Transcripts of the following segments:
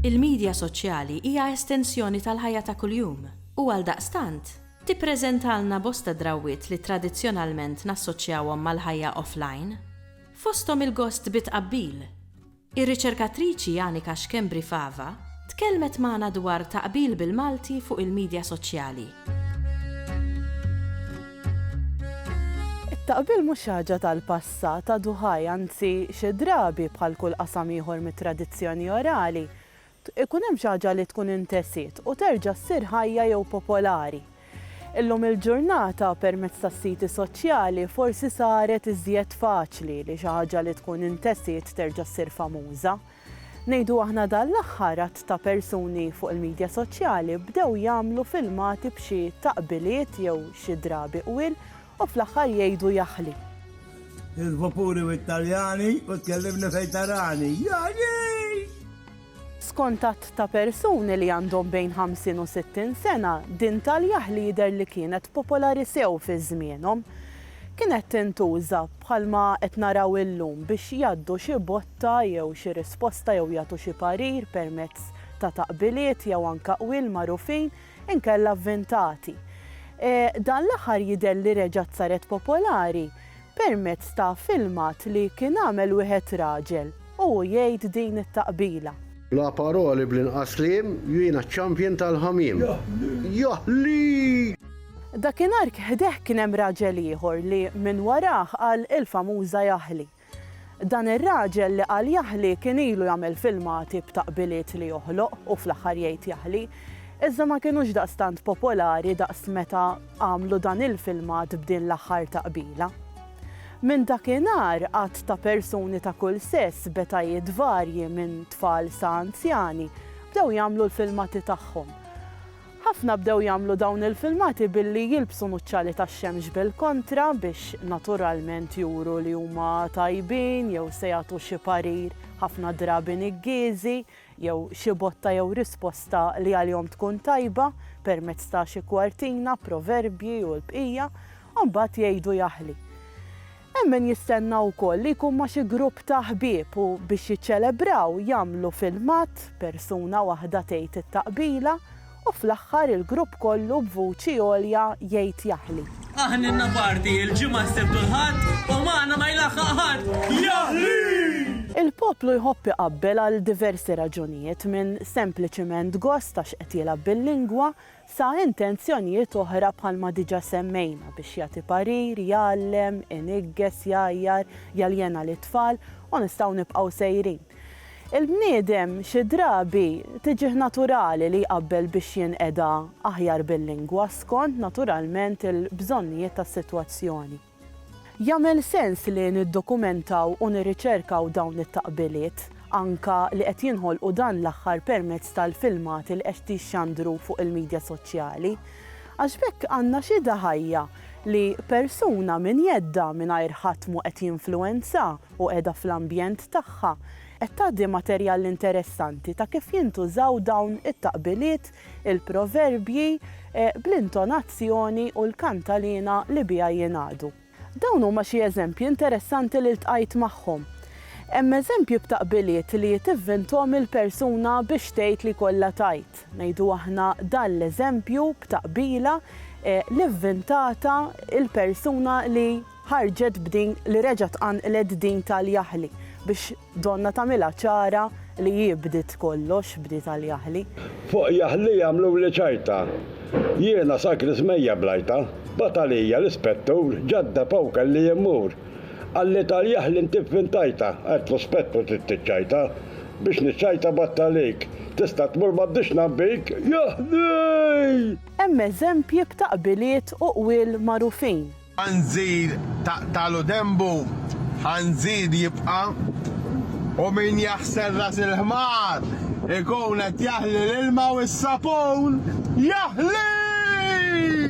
Il-midja soċjali hija estensjoni tal-ħajja ta' kuljum u għaldaqstant, tippreżentalna bosta drawwiet li tradizzjonalment nassoċjawhom mal-ħajja offline, fosthom il-gost bi tqabbil, Ir-riċerkatriċi Anika Schembri Fava tkellmet magħna dwar taqbil bil-Malti fuq il-midja soċjali. It-taqbil mhux xi ħaġa tal-passat, għadu ħaj, anzi xi drabi, bħal kull qasam ieħor mit-tradizzjoni orali, Ikun hemm xi ħaġa li tkun intesiet u terġa' ssir ħajja jew popolari. Illum il-ġurnata, permezz tas-siti soċjali, forsi saret iżjed faċli li xi ħaġa li tkun intesiet terġa' ssir famuża. Ngħidu aħna dan l-aħħar għadd ta' persuni fuq il-midja soċjali bdew jagħmlu filmati b'xi taqbiliet jew xi drabi qwiel U fl-aħħar jgħidu jaħli. Il-vapuri u t-taljani u tkellimni fejn tarani. Jagħlix! Skont għadd ta' persuni li għandhom bejn 50 u 60 sena, din tal-jaħli jidher li kienet popolari sew fi żmienhom. Kienet tintuża bħalma qed naraw illum biex jgħaddu xi botta jew xi risposta jew jagħtu xi parir permezz ta' taqbiliet jew anke qwiel magħrufin inkella vvintati. Dan l-aħħar jidher li reġgħet saret popolari permezz ta' filmat li kien għamel wieħed raġel u hu jgħid din it-taqbila. Bla paroli bl-inqas kliem, jiena ċ-champion tal-ħamiem. Jaħli! Dakinhar ħdeh kien hemm raġel ieħor li minn warah qal il-famuża jaħli. Dan ir-raġel li qal Jaħli kien ilu jagħmel filmati b'taqbiliet li joħloq u fl-aħħar jgħid Jaħli, iżda ma kinux daqstant popolari daqs meta għamlu dan il-filmat b'din l-aħħar taqbila. Minn dakinhar għadd ta' persuni ta' kull sess b'etajiet varji minn tfal sa anzjani bdew jagħmlu l-filmati tagħhom. Ħafna bdew jagħmlu dawn il-filmati billi jilbsu nuċċali tax-xemx bil-kontra biex naturalment juru li huma tajbin jew se jagħtu xi parir, ħafna drabi niggieżi, jew xi botta jew risposta li għalihom tkun tajba, permezz ta' xi kwartina, proverbji u l-bqija, u mbagħad jgħidu jaħli. Hemm min jistenna wkoll li jkun ma' xi grupp ta' ħbieb u biex jiċċelebraw jagħmlu filmat, persuna waħda tgħid it-taqbila u fl-aħħar il-grupp kollu b'vuċi għolja jgħid jaħli. Aħninna party il-Ġimgħa s-Sibt u l-Ħadd u magħna ma jlaħħaq ħadd, jaħli! Il-poplu jħobb iqabbel għal diversi raġunijiet minn sempliċiment gost għax qed jilgħab bil-lingwa, sa intenzjonijiet oħra bħalma diġà semmejna biex jagħti parir, jgħallem, iniggeż, jgħajjar, jaljena lit-tfal, u nistgħu nibqgħu sejrin. Il-bniedem xi drabi tiġih naturali li jqabbel biex jinqeda aħjar bil-lingwa skont naturalment il-bżonnijiet tas-sitwazzjoni. Jagħmel sens li niddokumentaw u nirriċerkaw dawn it-taqbiliet, anke li qed jinħolqu dan l-aħħar permezz tal-filmati li qed jixxandru fuq il-midja soċjali? Għax b'hekk għandna xhieda ħajja li persuna minn jeddha mingħajr ħadd mhu qed jinfluwenza u qiegħda fl-ambjent tagħha, qed tgħaddi materjal interessanti ta' kif jintużaw dawn it-taqbiliet il-proverbji, bl-intonazzjoni u l-kantaliena li biha jingħadu. Dawn huma xi eżempji interessanti li ltqajt magħhom. Hemm eżempji b'taqbiliet li tivvinthom il-persuna biex tgħid li jkollha tgħid, ngħidu aħna dan l-eżempju b'taqbila li vvintata l-persuna li ħarġet b'din li reġgħet qanqlet din tal-jaħli biex Donna tagħmilha ċara li hi bdiet kollox, bdiet għal Jaħli. Fuq Jaħli għamluli ċajta. Jiena sakris mejja bl-għajta. Bagħat għalija l-ispettur, ġadda b'hawn kelli immur. Qalli tal Jaħli inti vvintajta, għedtlu spettur trid tiċċajta. Biex niċċajta bgħadt għalik. Tista' tmur m'għaddix ngħabbik, Jaħli! Hemm eżempji b'taqbiliet u qwiel magħrufin. Ħanżir taqtagħlu denbu, ħanżir jibqa', u min jaħsel ras il-ħmar ikun qed jaħli l-ilma u s-sapun jaħli!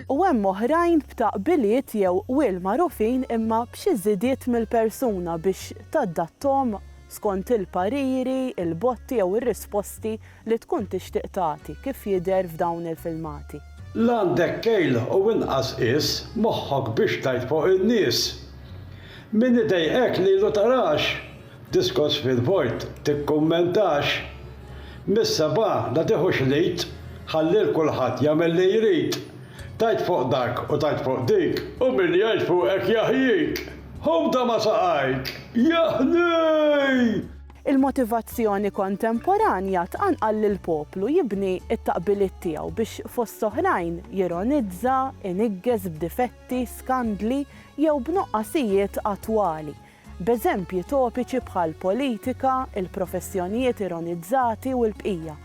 U hemm oħrajn b'taqbiliet jew qwiel magħrufin imma b'xi żidiet mill-persuna biex tadatthom skont il-pariri, il-botti jew ir-risposti li tkun tixtieq tagħti kif jidher f'dawn il-filmati. L-għandek kejl u inqas qies moħħok biex tgħid fuq in-nies. Min idejqek lilu tarax, diskors fil-vojt tikkummentax. Mis-sebgħa la tieħux l-id, ħalli 'l kulħadd jagħmel li jrid. Tgħid fuq dak u tgħid fuq dik, u min jgħid fuqek jaħjik. Ħobda ma' saqajk, jaħnik! Il-motivazzjoni kontemporanja tqanqal lill-poplu jibni t-taqbiliet tiegħu biex fost oħrajn jironizza, iniggeż b'difetti, skandli jew b'nuqqasijiet attwali, b'eżempji topiċi bħall-politika, il-professjonijiet ironizzati u l-bqija.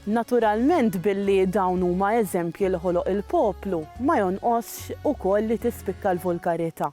Naturalment billi dawn huma eżempji li ħoloq il-poplu, ma jonqosx ukoll li tispikka l-vulgarità.